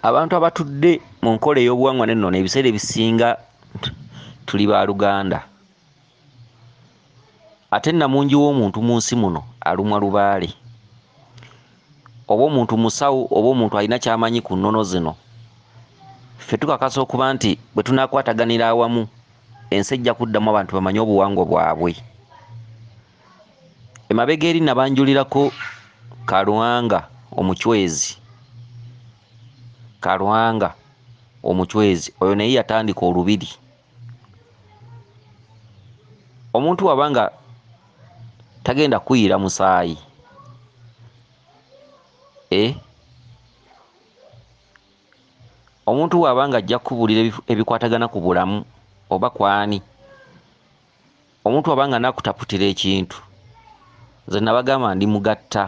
abantu abatudde mu nkola ey'obuwangwa n'ennono ebiseera ebisinga tuli ba luganda ate namungi w'omuntu mu nsi muno alumwa lubaale oba omuntu musawo oba omuntu alina kyamanyi ku nnono zino ffe tukakasa okuba nti bwe tunakwataganira awamu ensi ejja kuddamu abantu bamanye obuwangwa bwabwe emabega eri nabanjulirako kalwanga omucwezi kalwanga omucwezi oyo naye yatandika olubiri omuntu waba nga tagenda kuyira musaayi eh? omuntu waaba nga ajja kukubuulira ebikwatagana ku bulamu oba kwani omuntu waba nga nakutaputira ekintu nze nabagamba ndi mugatta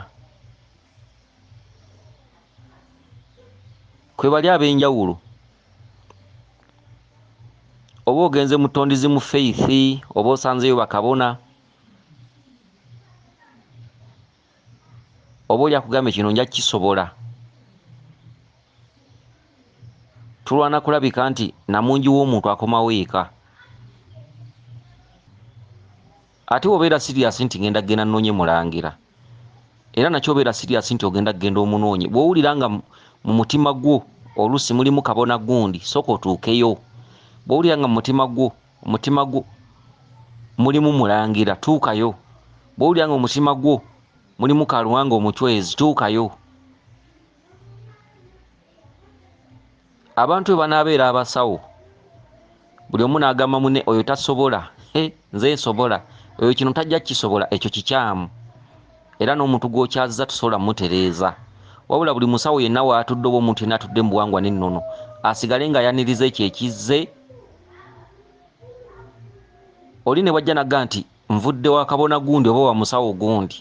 kwebali abenjawulo oba ogenze mutondizi mu faith oba osanzeyo bakabona oba oli akugambye kino nja kisobola tulwana kulabika nti namungi w'omuntu akomawo eka ate obeera siriyasi nti ngenda kugenda nnoonye mulangira era nakyo obeera siriyasi nti ogenda kugenda omunoonye bw'owulira nga mu mutima gwo oluusi mulimu kabona gundi sooka otuukeyo bw'owulira nga mu mutima gwo omutima gwo mulimu mulangira tuukayo bwowulira nga omutima gwo mulimu kaluwanga omucwezi tuukayo abantu bwe banaabeera abasawo buli omu n'agamba mune oyo tasobola eh, nze nsobola oyo kino tajja kukisobola ekyo kikyamu era n'omuntu gwokyazza tusobola mutereeza wabula buli musawo yenna waatudde oba omuntu yenna atudde mu buwangwa n'ennono asigale ng'ayaniriza ekyo ekizze oli ne bwajja nagga nti nvudde wakabona gundi oba wamusawo gundi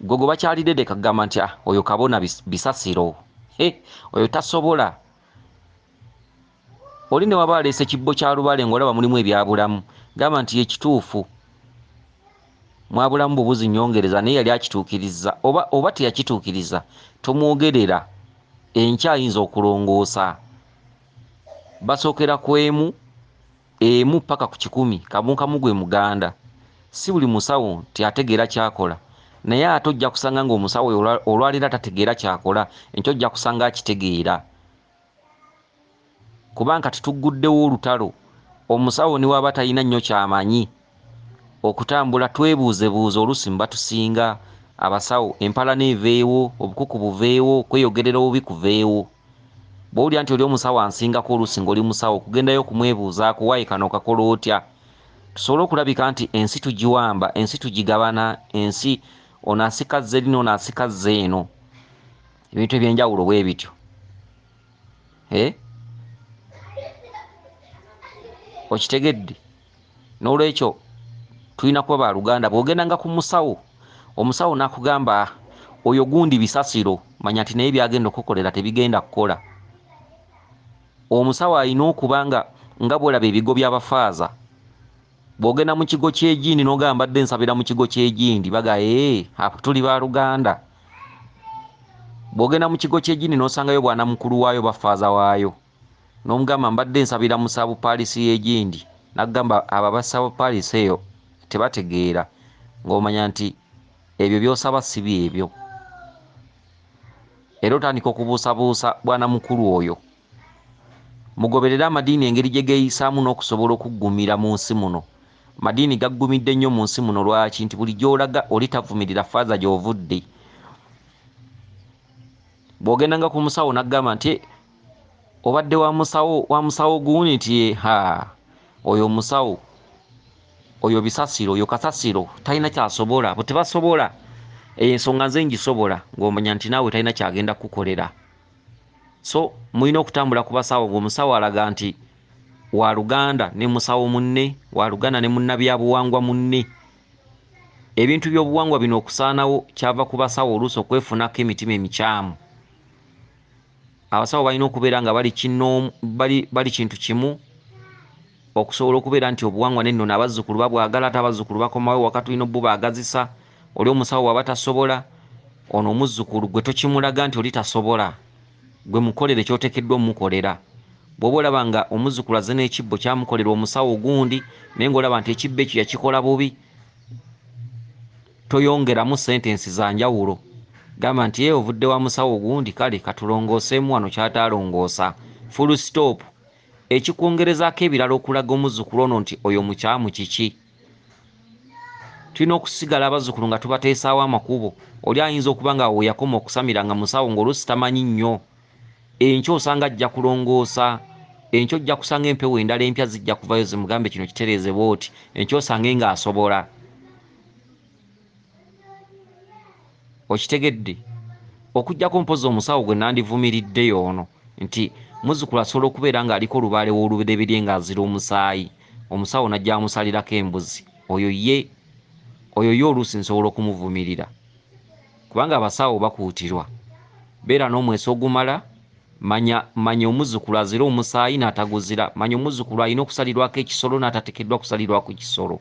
gwe gwe bakyalidde de kagamba nti ah, oyo kabona bisasiro eh, oyo tasobola oli ne waba aleese kibbo kya lubale ngaolaba mulimu ebyabulamu gamba nti ekituufu mwabulamu bubuzi nyongereza naye yali akituukiriza oba, oba teyakituukiriza tomwogerera enkya ayinza okulongoosa Basookera ku emu emu ppaka ku kikumi, kabunkamu gwe muganda. Si buli musawo nti ategeera ky'akola naye ate ojja kusanga ng'omusawo oyo olwaleero atategeera ky'akola enkya ojja kusanga akitegeera kubanga kati tugguddewo olutalo omusawo ne waba talina nnyo ky'amanyi okutambula twebuuzebuuze oluusi mu batusinga abasawo empalana eveewo obukuku buveewo kweyogerera obubi kuveewo bwowulira nti oli omusawo ansingako oluusi nga oli musawo okugendayo okumwebuuzaako waayi kano okakola otya tusobole okulabika nti ensi tugiwamba ensi tugigabana ensi ono asika zze lino ono asika zze eno ebintu ebyenjawulo bwe bityo eh? okitegedde n'olwekyo tulina kuba ba luganda bw'ogendanga ku musawo omusawo n'akugamba oyo gundi bisasiro manya nti naye byagenda okukolera tebigenda kukola omusawo alina okuba nga nga bwolaba ebigo by'abafaaza bw'ogenda mu kigo ky'egindi n'ogamba mbadde nsabira mu kigo ky'egindi baga ee apo tuli ba luganda bw'ogenda mu kigo ky'egindi n'osangayo bwana mukulu waayo bafaaza waayo Nomugamba mbadde nsabira mu sub parish yegindi nakugamba abo aba sub parish eyo tebategeera ngomanya nti ebyo byosaba sibyebyo era otandika okubuusabuusa bwana mukulu oyo. Mugoberere amadiini engeri gyegeyisaamu nokusobola okuggumira munsi muno. Amadiini gaggumidde nnyo munsi muno lwaki nti buli gyolaga oli tavumirira faaza gyovudde. Bwogendanga ku musawo nakugamba nti. obadde wa musawo wa musawo guuni nti ye ha oyo musawo oyo bisasiro oyo kasasiro talina kyasobola abo tebasobola eyo ensonga nze ngisobola ng'omanya nti naawe talina kyagenda kukukolera so mulina okutambula ku basawo ng'omusawo alaga nti wa luganda ne musawo munne wa luganda ne munnabyabuwangwa munne ebintu by'obuwangwa bino okusaanawo kyava ku basawo oluusi okwefunako emitima emikyamu Abasawo balina okubeera nga bali kinnoomu, bali, bali kintu kimu, okusobola okubeera nti obuwangwa n'ennono abazzukulu babwagala, ate abazzukulu bakomawo ewaka tulina obubaagazisa. Oli omusawo bw'aba tasobola, ono omuzzukulu ggwe tokimulaga nti oli tasobola, ggwe mukolere ky'oteekeddwa omukolera. Bw'oba olaba nga omuzzukulu azze n'ekibbo kyamukolerwa omusawo gundi, naye nga olaba nti ekibbo ekyo yakikola bubi, Toyongeramu sentensi za njawulo. Gamba nti, Yee, ovudde wa musawo gundi? Kale, ka tulongooseemu wano ky'ataalongoosa. Fulusitoopu. Ekikwongerezaako ebirala okulaga omuzzukulu ono nti oyo mukyamu kiki? Tulina okusigala abazzukulu nga tubateesaawo amakubo. Oli ayinza okuba nga awo we yakoma okusamira nga musawo ng'oluusi tamanyi nnyo. Enkya osanga ajja kulongoosa. Enkya ojja kusanga empewo endala empya zijja kuvayo zimugambe kino kitereeze bw'oti. Enkya osange ng'asobola. okitegedde okujjako mpozi omusawo gwe nandivumiridde yoono nti muzukulu asobola okubeera ng'aliko olubaale w'olubereberye ng'azira omusaayi omusawo najja amusalirako embuzi oyo ye oyo ye oluusi nsobola okumuvumirira kubanga abasawo bakuutirwa beera n'omweso ogumala manya manya omuzukulu azira omusaayi n'ataguzira manya omuzukulu alina okusalirwako ekisolo n'atatekeddwa kusalirwako kisolo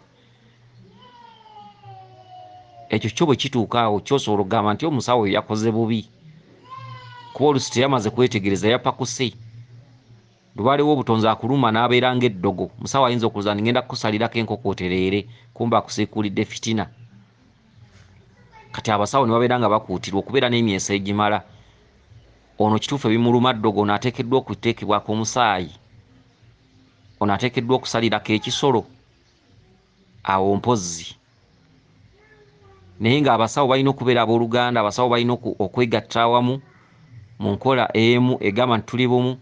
ekyo kyo bwe kituuka awo kyosobola okugamba nti omusawo oyo yakoze bubi kuba olusi teyamaze kwetegereza yapakuse lubalewo obutonzi akuluma n'abeera ng'eddogo musawo ayinza okuloza nti ngenda kukusalirako enkoko otereere kumba akusiikuulidde fitina kati abasawo ne babeera nga bakuutirwa okubeera n'emyeso egimala ono kituufu ebimuluma ddogo ono ateekeddwa okuteekebwako omusaayi ono ateekeddwa okusalirako ekisolo awo mpozzi naye nga abasawo balina okubeera abooluganda abasawo balina okwegatta awamu mu nkola emu egamba nti tuli bumu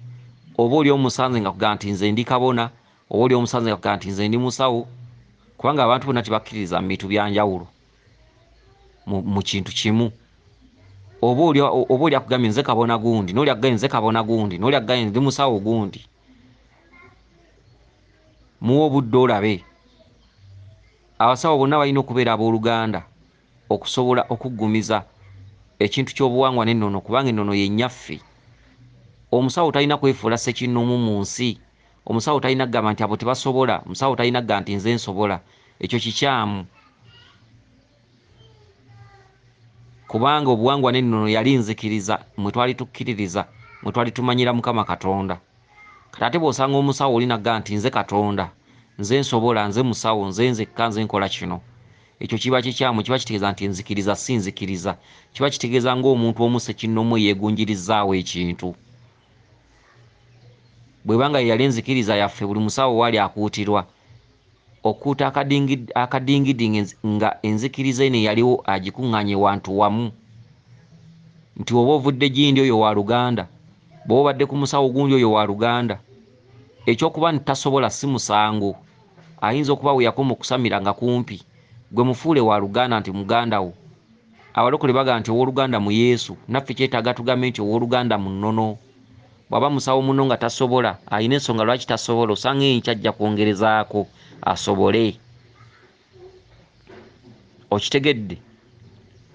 oba oli omusanze nga kugamba nti nze ndi kabona oba oli omusanze nga kugamba nti nze ndi musawo kubanga abantu bonna tebakkiririza mu bintu bya njawulo mu kintu kimu oba oli akugambye nze kabona gundi noli akugambye nze kabona gundi noli akugambye ndi musawo gundi muwa obudde olabe abasawo bonna balina okubeera abooluganda okusobola okuggumiza ekintu ky'obuwangwa n'ennono kubanga ennono ye nnyaffe omusawo talina kwefuula ssekinnomu mu nsi omusawo talina kugamba nti abo tebasobola omusawo talina kuga nti nze nsobola ekyo kikyamu kubanga obuwangwa n'ennono yali nzikiriza mwe twali tukkiririza mwe twali tumanyira mukama katonda kati ate bw'osanga omusawo oli nagga nti nze katonda nze nsobola nze musawo nze nzekka nze nkola kino ekyo kiba kikyamu kiba kitegeeza nti nzikiriza si nzikiriza kiba kitegeeza ng'omuntu omu sekinnomu eyeegunjirizaawo ekintu bwebanga yeyali enzikiriza yaffe buli musawo waali akuutirwa okuuta akadingidi nga enzikiriza eno eyaliwo agikuŋŋanye wantu wamu nti oba ovudde gindi oyo wa luganda bwoba obadde ku musawo gundi oyo wa luganda ekyokuba nti tasobola si musango ayinza okuba weyakoma okusamira nga kumpi gwe mufuule wa luganda nti muganda wo Abalokole bagamba nti owoluganda mu Yesu, naffe kyetaaga tugambe nti owoluganda mu nnono. Bwaba musawo munno nga tasobola, alina ensonga lwaki tasobola, osanga enkya ajja kwongerezaako asobole. Okitegedde?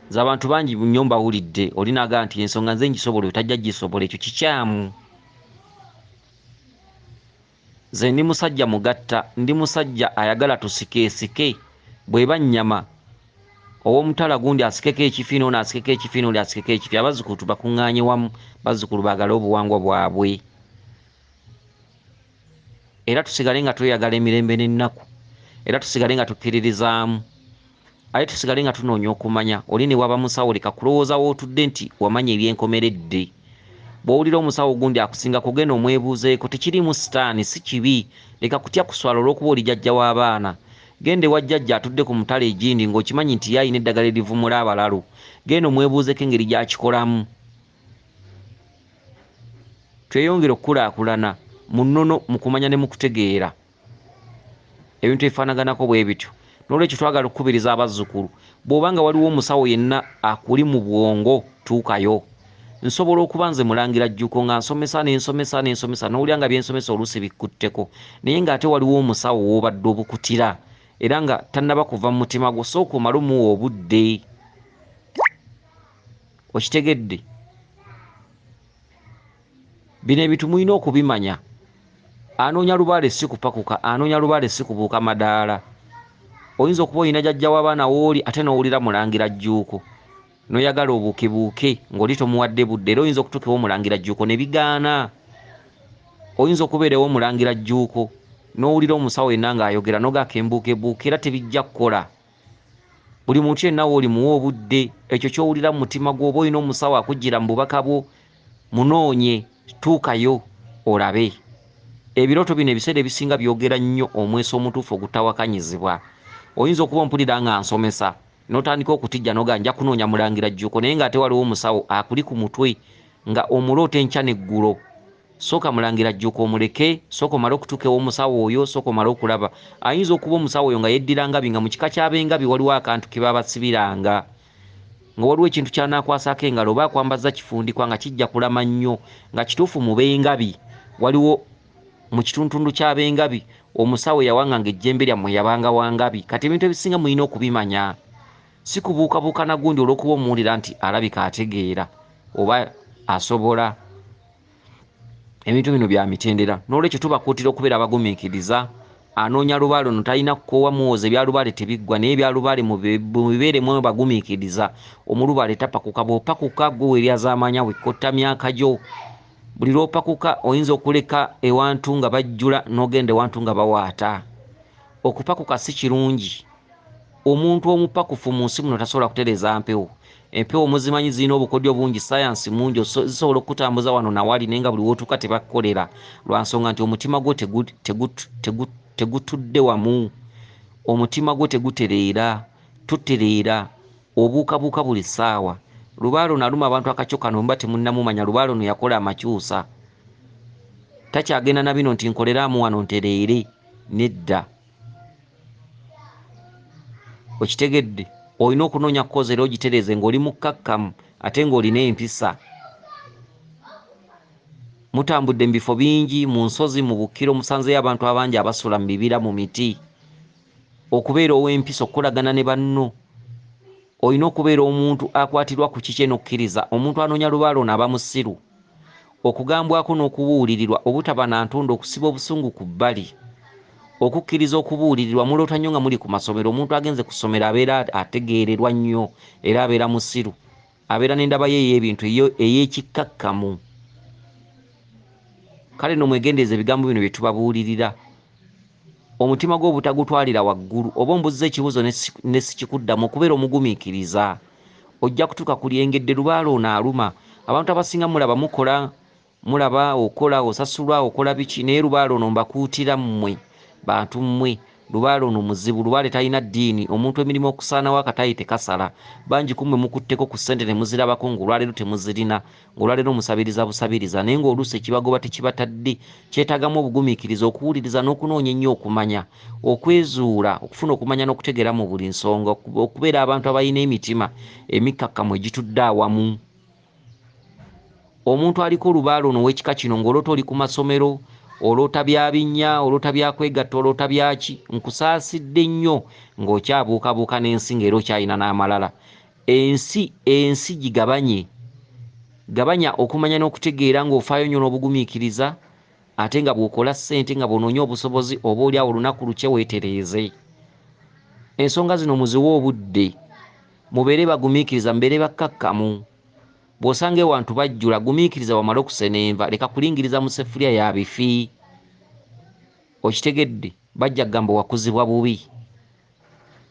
Nze abantu bangi nnyo mbawulidde, oli nagamba nti ensonga nze ngisobola oyo tajja gisobola, ekyo kikyamu. Nze ndi musajja mugatta, ndi musajja ayagala tusikeesike, bw'eba nnyama ow'omutala gundi asikeko ekifi n'ono asikeko ekifi n'oli asikeko ekifi, abazzukulu tubakuŋŋaanye wamu, bazzukulu baagale obuwangwa bwabwe era tusigale nga tweyagala emirembe n'ennaku era tusigale nga tukkiririzaamu. aye tusigale nga tunoonya okumanya oli ne waba musawo leka kulowooza wootudde nti wamanya ebyenkomeredde bw'owulira omusawo ogundi akusinga kugenda omwebuuzeeko tekiriimu sitaani si kibi leka kutya kuswala olw'okuba oli jajja w'abaana genda ewa jjajja atudde ku mutala egindi ng'okimanyi nti ye alina eddagala erivumula abalalu genda omwebuuzeeko engeri gy'akikolamu tweyongere okukulaakulana mu nnono mu kumanya ne mu kutegeera ebintu ebifaanaganako bwe bityo n'olwekyo twagala okukubiriza abazzukulu bw'oba nga waliwo omusawo yenna akuli mu bwongo tuukayo nsobola okuba nze mulangira jjuko nga nsomesa nensomesa nensomesa nowulira nga byensomesa oluusi bikkutteko naye ng'ate waliwo omusawo w'obadde obukutira era nga tannaba kuva mu mutima gwo sooka omale omuwa obudde okitegedde bino ebintu mulina okubimanya anoonya lubaale si kupakuka anoonya lubaale si kubuuka madaala oyinza okuba olina jajja w'abaana wooli ate n'owulira mulangira jjuuko noyagala obuukebuuke ng'oli tomuwadde budde era oyinza okutuuka ewomulangira jjuuko ne bigaana oyinza okubeera ewomulangira jjuuko n'owulira omusawo yenna ng'ayogera nogaaka embuukebuuke era tebijja kukola buli muntu yenna woolimuwa obudde ekyo kyowulira mu mutima gwo oba olina omusawo akujjira mu bubaka bwo munoonye tuukayo olabe ebirooto bino ebiseera ebisinga byogera nnyo omweso omutuufu ogutawakanyizibwa oyinza okuba ompulira nga nsomesa notandika okutijja noga nja kunoonya mulangira jjuko naye nga ate waliwo omusawo akuli ku mutwe nga omuloota enkya neggulo Soka mulangira jjuko omuleke soka omale okutuka ewomusawo oyo soka omale okulaba ayinza okuba omusawo oyo nga yeddira ngabi nga mukika kyabengabi waliwo akantu kebabasibiranga nga waliwo ekintu kyanakwasako engalo oba akwambazza kifundikwa nga kijja kulama nnyo nga kituufu mubengabi waliwo mukituntundu kyabengabi omusawo yawanganga ejjembe lyammwe yabanga wangabi kati ebintu ebisinga mulina okubimanya sikubuukabuuka nagundi olwokuba omuwulira nti alabika ategeera oba asobola ebintu bino bya mitendera n'olwekyo tubakuutira okubeera abagumiikiriza anoonya lubaale ono talina kukoowa muwooza ebyalubaale tebiggwa naye ebyalubaale mubibeere mwe bagumiikiriza omulubaale tapakuka bw'opakuka gwe weryazaamaanya wekkotta myaka gyo buli lw'opakuka oyinza okuleka ewantu nga bajjula n'ogenda ewantu nga bawaata okupakuka si kirungi Omuntu omupakufu mu nsi muno tasobola kutereeza mpewo. Empewo muzimanyi zirina obukodyo bungi, ssaayansi mungi, zisobola okukutambuza wano na wali naye nga buli w'otuuka tebakukolera lwa nsonga nti omutima gwo tegutudde wamu. Omutima gwo tegutereera, totereera, obuukabuuka buli ssaawa. Lubaale ono aluma abantu akakyo kano bwe muba temunnamumanya, lubaale ono yakola amakyusa. Takyagenda na bino nti nkoleraamu wano ntereere, nedda. okitegedde olina okunoonya kozi era ogitereeze ng'oli mukkakkamu ate ng'olina empisa mutambudde mu bifo bingi mu nsozi mu bukkiro musanzeyo abantu abangi abasula mu bibira mu miti okubeera ow'empisa okukolagana ne banno olina okubeera omuntu akwatirwa ku kiki eno okkiriza omuntu anoonya lubaale ono aba musiru okugambwako n'okubuulirirwa obutaba na ntondo okusiba obusungu ku bbali, okukkiriza okubuulirirwa muloota nnyo nga muli ku masomero omuntu agenze ku ssomero abeera ategeererwa nnyo era abeera musiru abeera n'endaba ye ey'ebintu ey'ekikkakkamu kale no mwegendereze ebigambo bino bye tubabuulirira omutima gwo obutagutwalira waggulu oba ombuzza ekibuuzo ne sikikuddamu okubeera omugumiikiriza. ojja kutuuka ku lyengedde lubaale ono aluma abantu abasinga mulaba mukola mulaba okola osasulwa okola biki naye lubaale ono mbakuutira mmwe bantu mmwe lubaale ono muzibu lubaale talina ddiini omuntu emirimu okusaanawo akataayi tekasala bangi ku mmwe mukutteko ku ssente ne muzirabako ng'olwaleero temuzirina ng'olwaleero musabiriza busabiriza naye ng'oluusi ekibagoba tekibatadde kyetaagamu obugumiikiriza okuwuliriza n'okunoonya ennyo okumanya okwezuula okufuna okumanya n'okutegeera mu buli nsonga okubeera abantu abalina emitima emikkakkamu egitudde awamu omuntu aliko olubaala ono ow'ekika kino ng'oloota oli ku masomero oloota byabinnya oloota byakwegatta oloota byaki nkusaasidde nnyo ng'okyabuukabuuka n'ensi ng'era okyalina n'amalala Ensi, ensi gigabanye. Gabanya okumanya n'okutegeera ng'ofaayo nnyo n'obugumiikiriza ate nga bw'okola ssente nga bw'onoonya obusobozi oboolyawo olunaku lukye weetereeze. Ensonga zino muziwe obudde. Mubeere bagumiikiriza, mubeere bakkakkamu. Bw'osanga ewantu bajjula, gumiikiriza bamale okusena enva, leka kulingiriza mu sseffuliya ya bifi. Okitegedde? Bajja kugamba wakuzibwa bubi.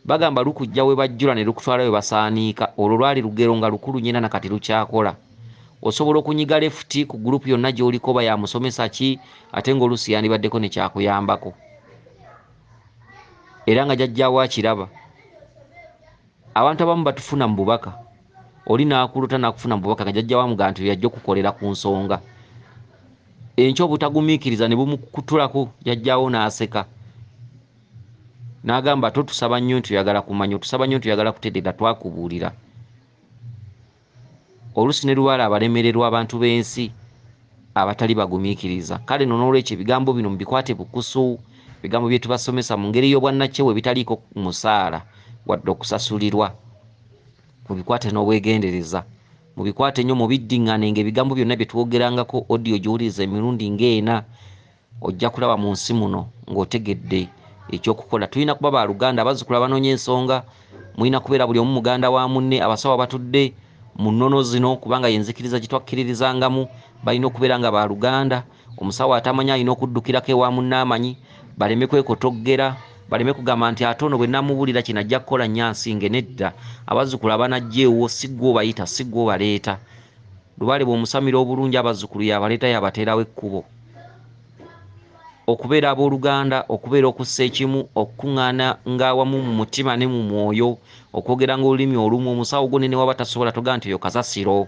Bagamba lukujja we bajjula ne lukutwala we basaaniika. Olwo lwali lugero nga lukulu nnyo era na kati lukyakola. Osobola okunyiga lefuti ku gulupu yonna gy'oliko oba ya musomesa ki ate ng'oluusi yandibaddeko ne kyakuyambako era nga jajjaawo akiraba. Abantu abamu batufuna mu bubaka. Oli n'akulota n'akufuna mu bubaka nga jajjaawo amugamba nti yajja okukolera ku nsonga. Enkya obutagumiikiriza ne bumukutulako jajjaawo n'aseka. n'agamba ate otusaba nnyo nti oyagala kumanya otusaba nnyo nti oyagala kutegeera twakubuulira oluusi ne lubaala abalemererwa abantu b'ensi abatali bagumiikiriza kale no n'olwekyo ebigambo bino mubikwate bukusu ebigambo bye tubasomesa mu ngeri y'obwannakyewa ebitaliiko musaala wadde okusasulirwa mubikwate n'obwegendereza mubikwate nnyo mubiddiŋŋane ng'ebigambo byonna bye twogerangako odiyo giwuliriza emirundi ng'ena ojja kulaba mu nsi muno ng'otegedde ekyokukola tulina kuba baluganda abazzukulu abanoonya ensonga mulina kubeera buli omu muganda wa munne abasawo abatudde mu nnono zino kubanga yenzikiriza gye twakkiririzangamu balina okubeera nga baluganda omusawo atamanya alina okuddukirako ewa munne amanyi baleme kwekotoggera baleme kugamba nti ate ono bwe namubuulira kino ajja kukola nnyo ansinge nedda abazzukulu abanajja ewuwo si gwe obayita si gwe obaleeta Lubaale bw'omusamira obulungi abazzukulu y'abaleeta y'abateerawo ekkubo. Okubeera abooluganda, okubeera okussa ekimu, okukung'aana ng'awamu mu mutima ne mu mwoyo, okwogeranga olulimi olumu, omusawo gwo ne newaba tasobola togamba nti oyo kasasiro.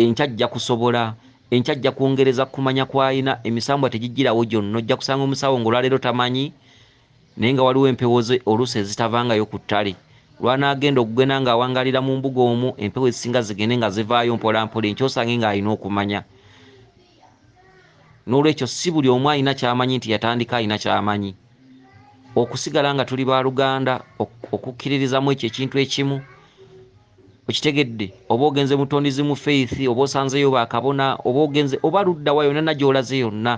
Enkya ajja kusobola. Enkya ajja kwongereza ku kumanya kw'alina. Emisambwa tegijjirawo gyonna. Ojja kusanga omusawo ng'olwaleero tamanyi. naye nga waliwo empewo ze oluusi ezitavangayo ku ttale. Lw'anaagenda okugenda ng'awangaalira mu mbuga omwo, empewo ezisinga zigende nga zivaayo mpolampola enkya osange ng'alina okumanya. N'olwekyo si buli omu alina ky'amanyi nti yatandika alina ky'amanyi. Okusigala nga tuli baaluganda, okukkiririza mu ekyo ekintu ekimu, okitegedde oba ogenze mutondizi mu faith oba osanzeyo bakabona oba ogenze oba luddawa yonana gyolaze yonna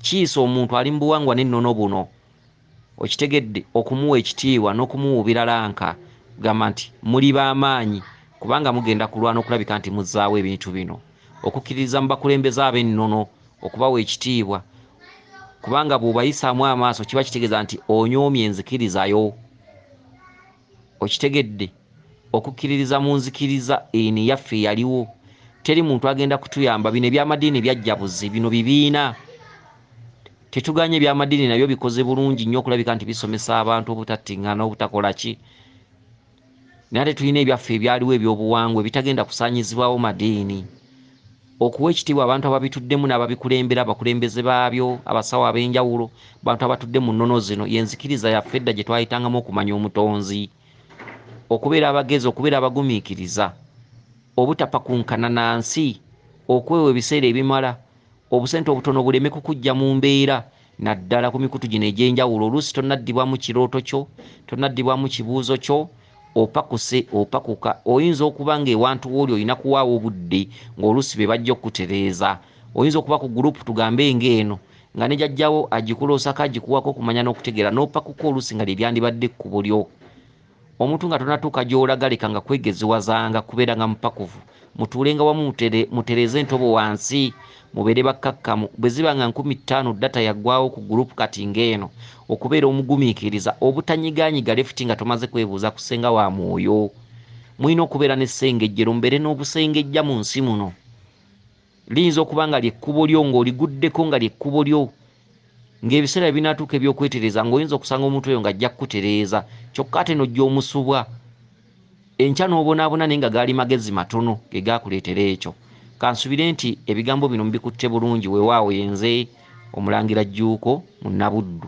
kiisa omuntu ali mubuwangwa nennono buno okitegedde okumuwa ekitiibwa nokumuwuubira lanka gamba nti muli bamaanyi kubanga mugenda kulwana okulabika nti muzaawo ebintu bino okukkiririza mu bakulembeze abennono okubawa ekitiibwa kubanga bwobayisaamu amaaso kiba kitegeeza nti onyoomye enzikirizayo okitegedde okukiririza munzikiriza eno eyaffe eyaliwo teri muntu agenda kutuyamba bino ebyamadiini byajja buzi bino bibiina tetuganye ebyamadiini nabyo bikoze bulungi nnyo okulabika nti bisomesa abantu obutattingana obutakola ki naye ate tulina ebyaffe ebyaliwo ebyobuwangwa ebitagenda kusaanyizibwawo madiini okuwa ekitiibwa abantu ababituddemu n'ababikulembera, abakulembeze baabyo, abasawo ab'enjawulo, bantu abatudde mu nnono zino, y'enzikiriza yaffe edda gye twayitangamu okumanya Omutonzi. Okubeera abagezi, okubeera abagumiikiriza, obutapakunkana na nsi, okwewa ebiseera ebimala, obusente obutono buleme kukujja mu mbeera, naddala ku mikutu gino egy'enjawulo oluusi tonaddibwamu kirooto kyo tonaddibwamu kibuuzo kyo opakuse opakuka oyinza okuba ng'ewantu wooli olina kuwaawo obudde ng'oluusi be bajja okukutereeza oyinza okuba ku gurupu tugambe ng'eno nga ne jajjawo agikuloosako agikuwako okumanya n'okutegeera n'opakuka oluusi nga lye lyandibadde ekkubo lyo omuntu nga tonatuuka gy'olaga lekanga kwegeziwazanga kubeeranga mupakuvu mutuulenga wamu mutereeze entobo wansi mubeere bakkakkamu bwe ziba nga nkumi ttaano data yaggwawo ku gurupu kati ng'eno okubeera omugumiikiriza obutanyigaanyiga lefuti nga tomaze kwebuuza ku ssenga wa mwoyo mulina okubeera n'essengejjero mubeere n'obusengejja mu nsi muno Liyinza okuba nga lye kkubo lyo, nga oliguddeko, nga lye kkubo lyo. Nga ebiseera bye binaatuuka eby'okwetereeza, nga oyinza okusanga omuntu oyo nga ajja kukutereeza, kyokka ate n'ojja omusubwa. Enkya n'obonaabona naye nga gaali magezi matono ge gaakuleetera ekyo. Kansubire nti ebigambo bino mubikutte bulungi. Weewaawo ye nze Omulangira Jjuuko, Munnabuddu.